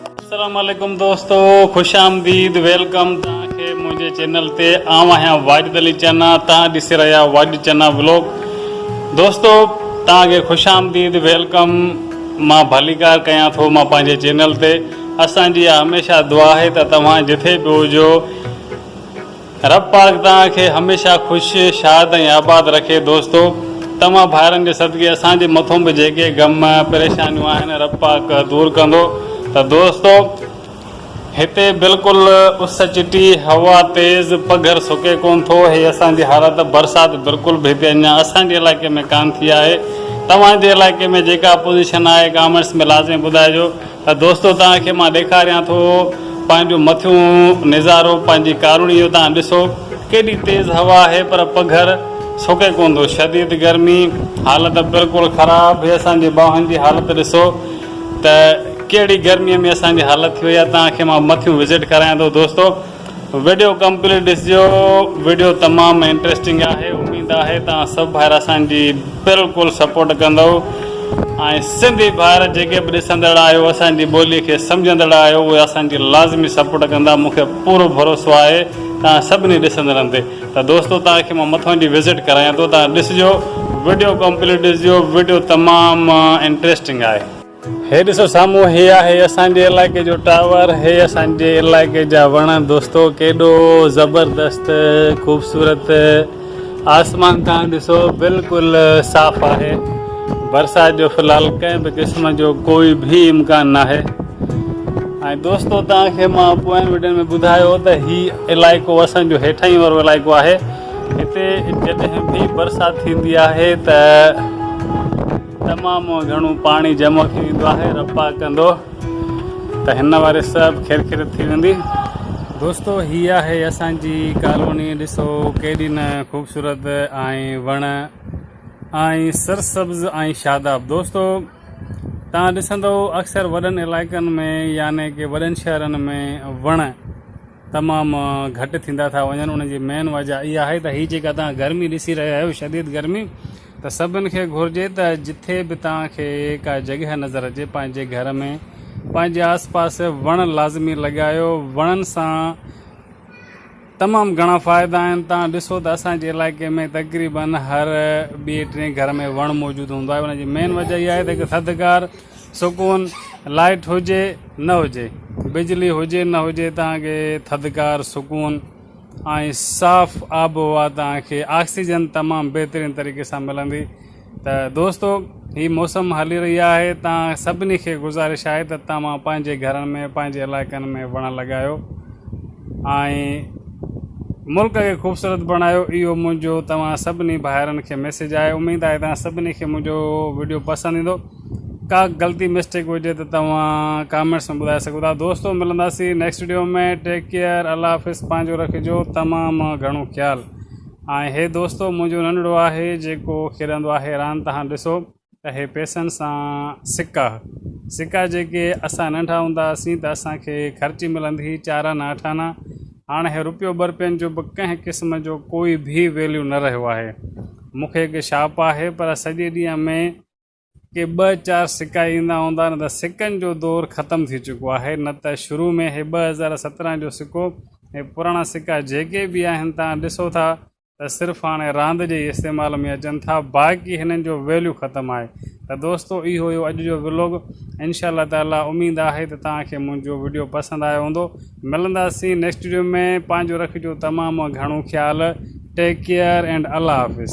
اسلام عليڪم دوستو خوش آمديد ويلڪم تان کي منهنجي چينل تي آئون آهيان واجد علي چنا تان ڏسي رهيا واجد چنا ولوگ دوستو تان کي خوش آمديد ويلڪم مان ڀليڪار ڪيان ٿو مان پنهنجي چينل تي اسان جي هميشه دعا آهي ته توهان جٿي به هجو رب پاڪ توهان کي هميشه خوش، شاد ۽ آباد رکي دوستو توهان ڀائرن جي صدقي اسان جي مٿون به جيڪي غم پريشانيون آهن رب پاڪ دور ڪندو ته دوستو هتي بلڪل اس چٽي هوا تيز پگهر سڪي ڪون ٿو هي اسان جي حالت برسات بلڪل به هتي اڃان اسان جي علائقي ۾ ڪان ٿي آهي توهان جي علائقي ۾ جيڪا پوزيشن آهي ڪامينٽس ۾ لازمي ٻڌائجو. ته دوستو توهان کي مان ڏيکاريان ٿو پنهنجو مٿيون نظارو پنهنجي ڪارونهي جو توهان ڏسو ڪيڏي تيز هوا آهي پر پگهر سڪي ڪونه ٿو شديد گرمي حالت بلڪل خراب هي اسان جي ٻانهن جي حالت ڏسو ته ڪهڙي گرمي ۾ اسان جي حالت ٿي وئي آهي توهان کي مان مٿيون وزٽ ڪرايان ٿو دوستو وڊيو ڪمپليٽ ڏسجو وڊيو تمام انٽريسٽنگ آهي اميد آهي توهان سڀ ڀائر اسان جي بلڪل سپورٽ ڪندؤ ۽ سنڌي ڀائر جيڪي به ڏسندڙ آهيو اسان جي ٻولي کي سمجهندڙ آهيو اهي اسان جي لازمي سپورٽ ڪندا مون کي پورو ڀروسو آهي توهان سڀني ڏسندڙن تي ته دوستو توهان کي مان مٿون جي وزٽ ڪرايان ٿو توهان ڏسجو وڊيو ڪمپليٽ ڏسجو وڊيو تمام انٽريسٽنگ آهي. هي ڏسو سامهون هي آهي اسان جي علائقي جو ٽاور هي اسان جي علائقي جا وڻ دوستو ڪيڏو زبردست خوبصورت آسمان تان ڏسو بلڪل صاف آهي برسات جو فلحال ڪنهن به قسم جو ڪوئي به امڪان ناهي ۽ دوستو تان کي مان پوين ويڊيو ۾ ٻڌايو ته هي علائقو اسان جو هيٺائين وارو علائقو آهي هتي جڏهن به برسات ٿيندي آهي ته تمام گهڻو پاڻي جمع ٿي ويندو آهي رپا ڪندو ته هن واري سڀ کيرکيرت ٿي ويندي دوستو هي آهي اسان جي ڪالوني ڏسو ڪيڏي نه خوبصورت ۽ وڻ ۽ سرسبز ۽ شاداب دوستو تان ڏسندو اڪثر وڏن علائقن ۾ يعني ڪي وڏن شهرن ۾ وڻ تمام گهٽ ٿيندا ٿا وڃن ان جي مين وجه اها آهي ته هي جيڪا توهان گرمي ڏسي رهيا آهيو شديد گرمي ته سڀن کي گهرجي ته جٿي به توهان کي ڪا جڳهه نظر اچي پنهنجي گهر ۾ پنهنجي آس پاس وڻ لازمي لڳايو وڻن سان تمام گهڻا فائدا آهن توهان ڏسو ته اسان جي علائقي ۾ تقريبن هر ٻي ٽي گهر ۾ وڻ موجود هوندو آهي ان جي مين وجه اها آهي ته هڪ ٿڌڪار سڪون، لائيٽ هجي نه هجي، بجلي هجي نه هجي توهان کي ٿڌڪار، سڪون ۽ صاف آبهوا توهان کي آڪسيجن تمام بهترين طريقي سان ملندي ته دوستو هي موسم هلي رهي آهي توهان سڀني کي گذارش آهي ته توهان پنهنجي گهرن ۾ پنهنجي علائقن ۾ وڻ لڳايو ۽ ملڪ کي خوبصورت بڻايو اهو منهنجو توهان سڀني ڀائرن کي ميسج آهي اميد آهي توهان سڀني کي منهنجو وڊيو پسند ايندو ڪا غلطي مسٽيڪ هجي ته توهان ڪامينٽس ۾ ٻڌائي سگهو ٿا دوستو ملنداسين next video ۾ take care Allah حافظ پنهنجو رکجو تمام گهڻو خيال ۽ هي دوستو منهنجو ننڍڙو آهي جيڪو کيڏندو آهي راند تهان ڏسو ته هي پيسن سان سڪا سڪا جيڪي اسان ننڍا هوندا هئاسين ته اسان کي خرچي ملندي هئي چار آنا اٺ آنا هاڻ هي روپيو ٻه روپين جو به ڪنهن قسم جو ڪوئي به ويليو نه رهيو آهي مونکي هڪ شاپ آهي پر سڄي ڏينهن ۾ ڪي ٻه چار سڪا ايندا هوندا نه ته سڪن جو دور ختم ٿي چڪو آهي نه ته شروع ۾ هي ٻه هزار سترهن جو سڪو ۽ پراڻا سڪا جيڪي به آهن تان ڏسو ٿا ته صرف هاڻي راند جي ئي استعمال ۾ اچن ٿا باقي هنن جو ويليو ختم آهي ته دوستو اهو هيو اڄ جو ولوگ انشاء الله تعالي اميد آهي ته توهان کي منهنجو وڊيو پسند آيو هوندو ملنداسين نيڪسٽ ويڊيو ۾ پنهنجو رکجو تمام گهڻو خيال take care and Allah Hafiz.